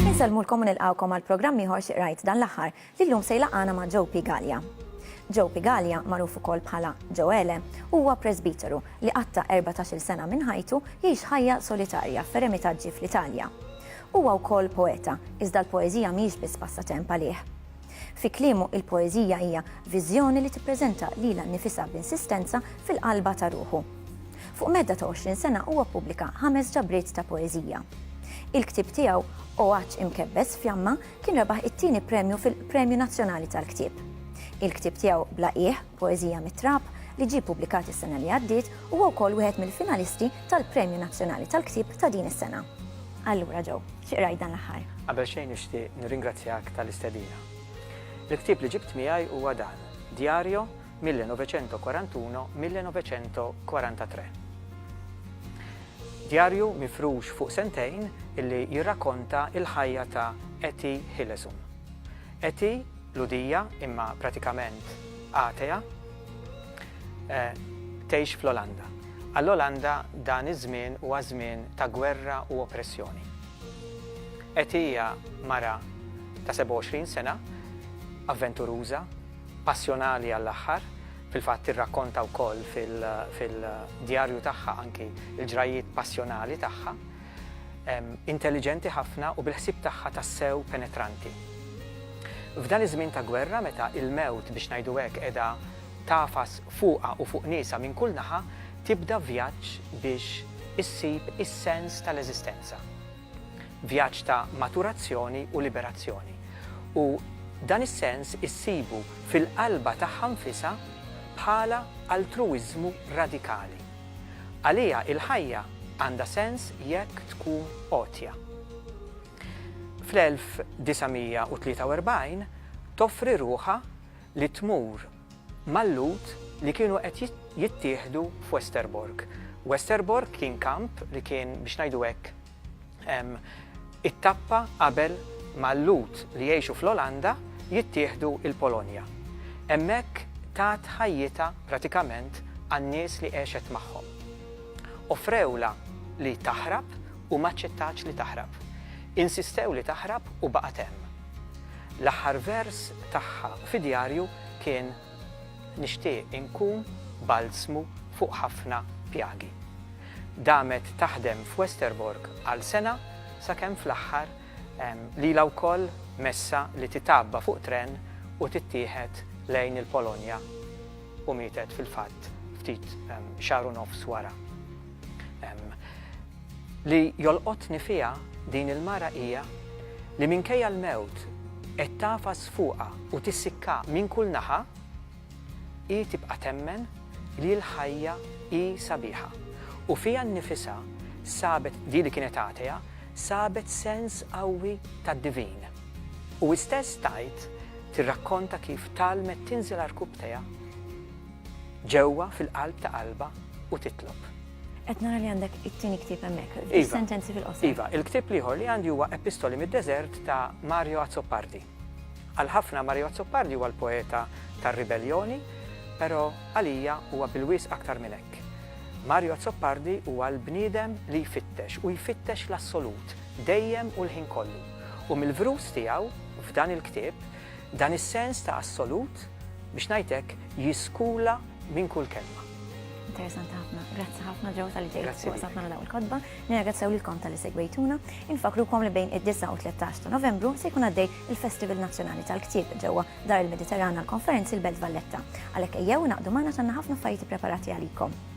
Insellmulkom u nilqawkom għal programm ieħor xi qrajt dan l-aħħar li llum se jlaqgħana ma' Joe Pigalja. Joe Pigalja, magħruf ukoll bħala Joele, huwa presbiteru li qatta' 14-il sena minn ħajtu jgħix ħajja solitarja f'eremitaġġi fl-Italja. Huwa wkoll poeta, iżda l-poeżija mhijiex biss passatemp għalih. Fi kliemu, il-poeżija hija viżjoni li tippreżenta lilha nnifisha b'insistenza fil-qalba ta' ruħu. Fuq medda ta' 20 sena huwa ppubblika ħames ġabriet ta' poeżija. Il-ktieb tiegħu, O Għatx Imkebbes Fjamma, kien rebaħ it-tieni premju fil-Premju Nazzjonali tal-Ktieb. Il-ktieb tiegħu Bla Qiegħ, Poeżija mit-Trab, li ġie ppubblikat is-sena li għaddiet, huwa wkoll wieħed mill-finalisti tal-Premju Nazzjonali tal-Ktieb ta' din is-sena. Allura Joe, xi qrajt dan l-aħħar? Qabel xejn nixtieq nirringrazzjak tal-istedina. Il-ktieb li ġibt miegħi huwa dan, Diario 1941-1943. Djarju mifrux fuq sentejn illi jirrakonta il-ħajja ta' Eti Hillesum. Eti Lhudija, imma pratikament atea, tgħix fl-Olanda. Għall-Olanda dan iż-żmien huwa żmien ta' gwerra u oppressjoni. Etty hija mara ta' 27 sena, avventuruża, passjonali għall-aħħar, fil-fatt tirrakkonta wkoll fil-djarju tagħha anki l-ġrajjiet passjonali tagħha, Intelliġenti ħafna u bil-ħsieb tagħha tassew penetranti. F'dan iż-żmien ta' gwerra meta il-mewt biex ngħidu hekk qiegħda tagħfas fuqha u fuq niesha minn kull naħa tibda vjaġġ biex issib is-sens tal-eżistenza. Vjaġġ ta' maturazzjoni u liberazzjoni. U dan is-sens issibu fil-qalba tagħha nfisha bħala altruwiżmu radikali. Għaliha il-ħajja għandha sens jekk tkun għotja. Fl-1943 toffri ruħha li tmur mal-Lhud li kienu qed jittieħdu f'Westerbork. Westerbork kien kamp li kien, biex ngħidu hekk, Hemm it-tappa qabel ma l-Lhud li jgħixu fl-Olanda jittieħdu l-Polonja. Hemmhekk tat ħajjitha pratikament għan-nies li għexet magħhom. Offrewlha li taħrab u m'aċċettatx li taħrab. Insistew li taħrab u baqgħet hemm. L-aħħar vers tagħha fid-djarju kien Nixtieq inkun balzmu fuq ħafna pjagi. Damet taħdem f'Westerbork għal sena sakemm fl-aħħar lilha wkoll messha li titgħabba fuq tren u tittieħed lejn il-Polonja u mietet fil-fatt ftit xahar u nofs wara. Li jolqotni fiha din il-mara hija li minkejja l-mewt qed tagħfas fuqha u tissikka minn kull naħa, hi tibqa' temmen li l-ħajja hi sabiħa u fiha nnifisha sabet, di li kienet atea, sabet sens qawwi tad-divin. U hi stess tgħid, tirrakkonta kif tgħallmet tinżel għar-rkub tiegħha, Ġewwa fil-qalb ta' qalbha u titlob. Qed nara li għandek it-tieni ktieb hemmhekk, fis-sentenzi fil-qosor. Iva, il-ktieb l-ieħor li għandi huwa Epistoli mid-Deżert ta' Mario Azzopardi. Għal ħafna Mario Azzopardi huwa l-poeta tar-ribelljoni, però għalija huwa bil-wisq aktar minn hekk. Mario Azzopardi huwa l-bniedem li jfittex u jfittex l-assolut, dejjem u l-ħin kollu. U mill-vrus tiegħu, f'dan il-ktieb, Dan is-sens ta' assolut, biex ngħid hekk, jiskula minn kull kelma. Interessanti ħafna. Grazzi ħafna ġew tal-li ġejt fuq safna naraw il-kodba. Nirgazzaw lilkom tal-li segwejtuna. Infakrukom li bejn id-9 u 13 ta' Novembru se jkun għaddej il-Festival Nazzjonali tal-Ktieb ġewwa Dar il-Mediterran għal konferenzi l-Belt Valletta. Għalhekk ejjew naqdu magħna tanna ħafna affarijiet ippreparati għalikom.